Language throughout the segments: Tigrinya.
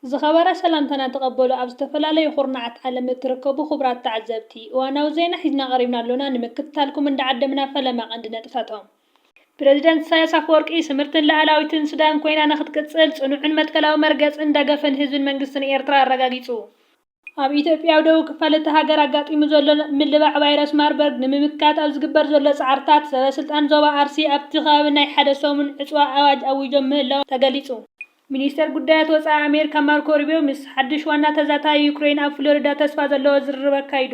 ዝኸበረ ሰላምታና ተቐበሉ ኣብ ዝተፈላለዩ ኩርናዓት ዓለም እትርከቡ ክቡራት ተዓዘብቲ እዋናዊ ዜና ሒዝና ቀሪብና ኣሎና ንምክትታልኩም እንዳዓደምና ፈለማ ቀንዲ ነጥብታቶም። ፕረዚደንት ኢሳያስ ኣፈወርቂ ስምርትን ልኣላዊትን ሱዳን ኮይና ንክትቅጽል ጽኑዕን መትከላዊ መርገጽን ደገፍን ህዝብን መንግስትን ኤርትራ ኣረጋጊጹ። ኣብ ኢትዮጵያዊ ደቡብ ክፋል እታ ሃገር ኣጋጢሙ ዘሎ ምልባዕ ቫይረስ ማርበርግ ንምምካት ኣብ ዝግበር ዘሎ ፃዕርታት ሰበስልጣን ዞባ ኣርሲ ኣብቲ ከባቢ ናይ ሓደ ሰሙን ዕፅዋ ኣዋጅ ኣዊጆም ምህላዎም ተገሊፁ። ሚኒስተር ጉዳያት ወፃኢ ኣሜሪካ ማርኮ ሩቢዮ ምስ ሓዱሽ ዋና ተዛታዪ ዩክሬይን ኣብ ፍሎሪዳ ተስፋ ዘለዎ ዝርርብ ኣካይዱ።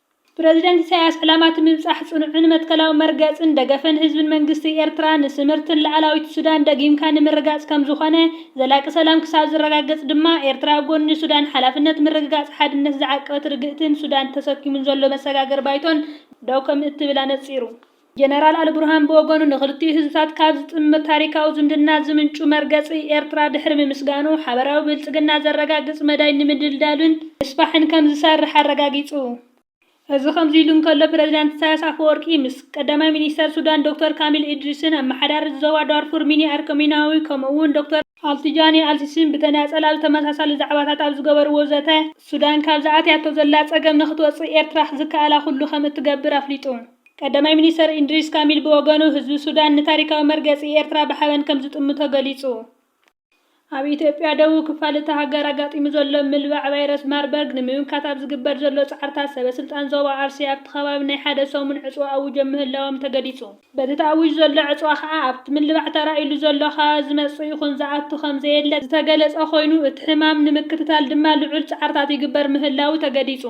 ፕረዚደንት ኢሳይያስ፣ ዕላማ'ቲ ምብጻሕ ጽኑዕን መትከላዊ መርገጽን ደገፍን ህዝብን መንግስቲ ኤርትራ ንስምርትን ልኣላዊት ሱዳን ደጊምካ ንምርጋጽ ከምዝኾነ፣ ዘላቂ ሰላም ክሳብ ዝረጋገጽ ድማ ኤርትራ ኣብ ጎኒ ሱዳን ሓላፍነት ምርግጋጽ ሓድነት ዝዓቀበት ርግእትን ሱዳን ተሰኪሙን ዘሎ መሰጋገሪ ባይቶን ደው ከምእትብል ኣነጺሩ። ጀነራል ኣልቡርሃን ብወገኑ ንክልቲኡ ህዝብታት ካብ ዝጥምር ታሪካዊ ዝምድና ዝምንጩ መርገፂ ኤርትራ ድሕሪ ምምስጋኑ፣ ሓበራዊ ብልፅግና ዘረጋግፅ መዳይ ንምድልዳልን ምስፋሕን ከምዝሰርሕ ኣረጋጊፁ። እዚ ከምዚ ኢሉ እንከሎ፣ ፕረዚዳንት ኢሳይያስ ኣፈወርቂ ምስ ቀዳማይ ሚኒስተር ሱዳን ዶክተር ካሚል ኢድሪስን ኣመሓዳሪት ዞባ ዳርፉር ሚኒ ኣርኮሚናዊ ከምኡ'ውን ዶክተር። ኣልቲጃኒ ኣልሲሲን ብተናጸል ኣብ ተመሳሳሊ ዛዕባታት ኣብ ዝገበርዎ ዘተ፣ ሱዳን ካብዚ ኣትያቶ ዘላ ጸገም ንኽትወጽእ ኤርትራ ዝከኣላ ኩሉ ከም እትገብር ኣፍሊጡ። ቀዳማይ ሚኒስተር ኢድሪስ ካሚል ብወገኑ፣ ህዝቢ ሱዳን ንታሪካዊ መርገጺ ኤርትራ ብሓበን ከም ዝጥምቶ ገሊጹ። ኣብ ኢትዮጵያ ደቡብ ክፋል እታ ሃገር ኣጋጢሙ ዘሎ ምልባዕ ቫይረስ ማርበርግ ንምምካት ኣብ ዝግበር ዘሎ ጻዕርታት ሰበ ስልጣን ዞባ ኣርሲ ኣብቲ ከባቢ ናይ ሓደ ሰሙን ዕጽዋ ኣዊጆም ምህላዎም ተገሊጹ። በቲ ተኣዊጁ ዘሎ ዕጽዋ ከኣ ኣብቲ ምልባዕ ተራእዩሉ ዘሎ ከባቢ ዝመጽእ ይኹን ዝኣቱ ከም ዘየለ ዝተገለጸ ኮይኑ፣ እቲ ሕማም ንምክትታል ድማ ልዑል ጻዕርታት ይግበር ምህላዉ ተገሊጹ።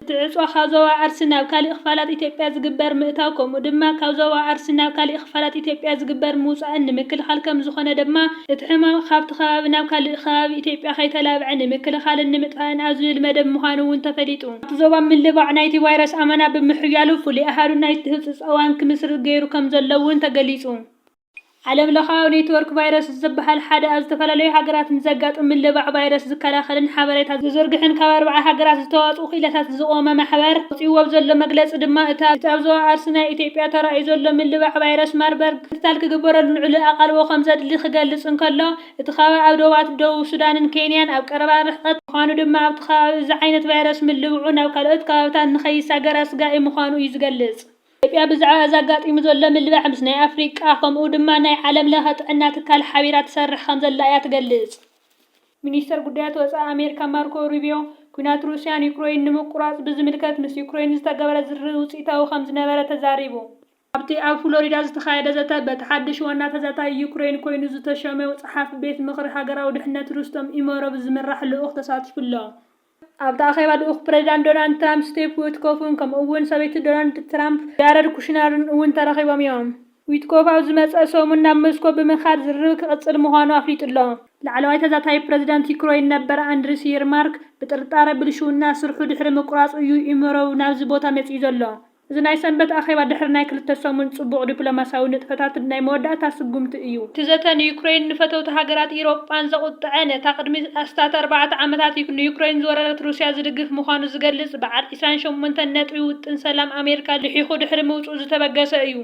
እቲ ዕጽዋ ካብ ዞባ ኣርሲ ናብ ካሊእ ክፋላት ኢትዮጵያ ዝግበር ምእታው ከምኡ ድማ ካብ ዞባ ኣርሲ ናብ ካሊእ ክፋላት ኢትዮጵያ ዝግበር ምውጻእን ንምክልኻል ከም ዝኾነ ድማ እቲ ሕማም ካብቲ ከባቢ ናብ ካሊእ ከባቢ ኢትዮጵያ ከይተላብዐ ንምክልኻልን ንምጥፋእን ኣብ ዝብል መደብ ምዃኑ እውን ተፈሊጡ። ኣብቲ ዞባ ምልባዕ ናይቲ ቫይረስ ኣመና ብምሕያሉ ፍሉይ ኣሃዱ ናይቲ ህጹጽ እዋን ክምስርት ገይሩ ከምዘሎ'ውን ተገሊጹ። ዓለምለኻዊ ኔትወርክ ቫይረስስ ዝበሃል ሓደ ኣብ ዝተፈላለዩ ሃገራት ንዘጋጥም ምልባዕ ቫይረስ ዝከላኸልን ሓበሬታ ዝዝርግሕን ካብ ኣርብዓ ሃገራት ዝተዋጽኡ ክኢላታት ዝቖመ ማሕበር ኣውጺእዎ ኣብ ዘሎ መግለጺ ድማ እቲ ኣብ ዞባ ኣርሲ ናይ ኢትዮጵያ ተራእዩ ዘሎ ምልባዕ ቫይረስ ማርበርግ ክትትል ክግበረሉን ዕሉል ኣቓልቦ ከምዘድሊ ክገልጽ እንከሎ እቲ ከባቢ ኣብ ዶባት ደቡብ ሱዳንን ኬንያን ኣብ ቀረባ ርሕቐት ምዃኑ ድማ ኣብቲ ከባቢ እዚ ዓይነት ቫይረስ ምልብዑ ናብ ካልኦት ከባብታት ንከይሳገር ኣስጋኢ ምዃኑ እዩ ዝገልጽ። ኢትዮጵያ ብዛዕባ እዚ ኣጋጢሙ ዘሎ ምልባዕ ምስ ናይ ኣፍሪቃ ከምኡ ድማ ናይ ዓለም ለኸ ጥዕና ትካል ሓቢራ ትሰርሕ ከምዘላ እያ ትገልጽ። ሚኒስተር ጉዳያት ወጻኢ ኣሜሪካ ማርኮ ሩቢዮ፣ ኲናት ሩስያ ንዩክረይን ንምቁራጽ ብዝምልከት ምስ ዩክረይን ዝተገብረ ዝርርብ ውጽኢታዊ ከምዝነበረ ተዛሪቡ። ኣብቲ ኣብ ፍሎሪዳ ዝተኻየደ ዘተ፣ በቲ ሓድሽ ዋና ተዛታዪ ዩክረይን ኰይኑ ዝተሾመ ጸሓፊ ቤት ምኽሪ ሃገራዊ ድሕነት ሩስቶም ኢመሮቭ ዝምራሕ ልኡኽ ተሳቲፉ'ሎ። ኣብቲ ኣኼባ ልኡኽ ፕረዚዳንት ዶናልድ ትራምፕ ስቴቭ ዊትኮፍን ከምኡ'ውን ሰበይቲ ዶናልድ ትራምፕ ጃረድ ኩሽነርን እውን ተረኺቦም'ዮም። ዊትኮፍ ኣብ ዝመጽእ ሰሙን ናብ ሞስኮ ብምኻድ ዝርርብ ክቕጽል ምዃኑ ኣፍሊጡ'ሎ። ላዕለዋይ ተዛታዪ ፕረዚዳንት ዩክረይን ነበር ኣንድሪስ የርማርክ ብጥርጣረ ብልሽውና ስርሑ ድሕሪ ምቁራጹ እዩ ኢመሮቭ ናብዚ ቦታ መጺኡ ዘሎ። እዚ ናይ ሰንበት ኣኼባ ድሕሪ ናይ ክልተ ሰሙን ጽቡቕ ዲፕሎማስያዊ ንጥፈታት ናይ መወዳእታ ስጉምቲ እዩ። እቲ ዘተ ንዩክረይን ንፈተውቲ ሃገራት ኢሮጳን ዘቑጥዐ ነታ ቅድሚ ኣስታት ኣርባዕተ ዓመታት ንዩክረይን ዝወረረት ሩስያ ዝድግፍ ምዃኑ ዝገልጽ በዓል ዕስራን ሸሞንተን ነጥቢ ውጥን ሰላም ኣሜሪካ ልሒኹ ድሕሪ ምውጽኡ ዝተበገሰ እዩ።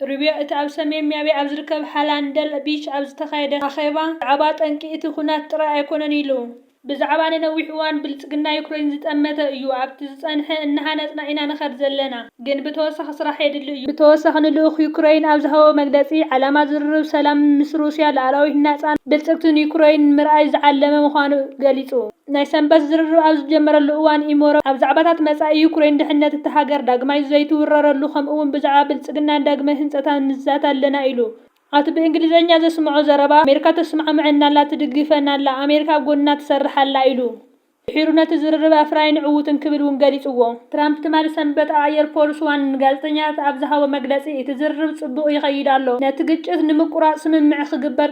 ሩቢዮ እቲ ኣብ ሰሜን ሚያቢ ኣብ ዝርከብ ሃላንደል ቢች ኣብ ዝተኻየደ ኣኼባ ብዛዕባ ጠንቂ እቲ ኵናት ጥራይ ኣይኰነን ኢሉ። ብዛዕባ ንነዊሕ እዋን ብልጽግና ዩክረይን ዝጠመተ እዩ፣ ኣብቲ ዝጸንሐ እናሃነጽና ኢና ንኸድ ዘለና፣ ግን ብተወሳኺ ስራሕ የድሊ እዩ። ብተወሳኺ ንልኡኽ ዩክረይን ኣብ ዝሃቦ መግለጺ፣ ዓላማ ዝርርብ ሰላም ምስ ሩስያ ልኣላዊትን ናጻን ብልጽግትን ዩክረይን ንምርኣይ ዝዓለመ ምዃኑ ገሊጹ። ናይ ሰንበት ዝርርብ ኣብ ዝጀመረሉ እዋን ኢሞሮቭ ኣብ ዛዕባታት መጻኢ ዩክረይን፣ ድሕነት እታ ሃገር ዳግማይ ዘይትውረረሉ ከምኡ'ውን ብዛዕባ ብልጽግናን ዳግመ ህንጸታን ንዛተ ኣለና ኢሉ። ኣቲ ብእንግሊዘኛ ዘስምዖ ዘረባ፣ ኣሜሪካ ተስማዕምዐና ኣላ፣ ትድግፈና ኣላ፣ ኣሜሪካ ኣብ ጎንና ትሰርሕ ኣላ ኢሉ። ድሒሩ ነቲ ዝርርብ ኣፍራይን ዕዉትን ክብል እውን ገሊጽዎ። ትራምፕ ትማሊ ሰንበት ኣብ ኣየር ፎርስ ዋን ንጋዜጠኛታት ኣብ ዝሃቦ መግለጺ፣ እቲ ዝርርብ ጽቡቕ ይኸይድ ኣሎ፣ ነቲ ግጭት ንምቁራጽ ስምምዕ ክግበር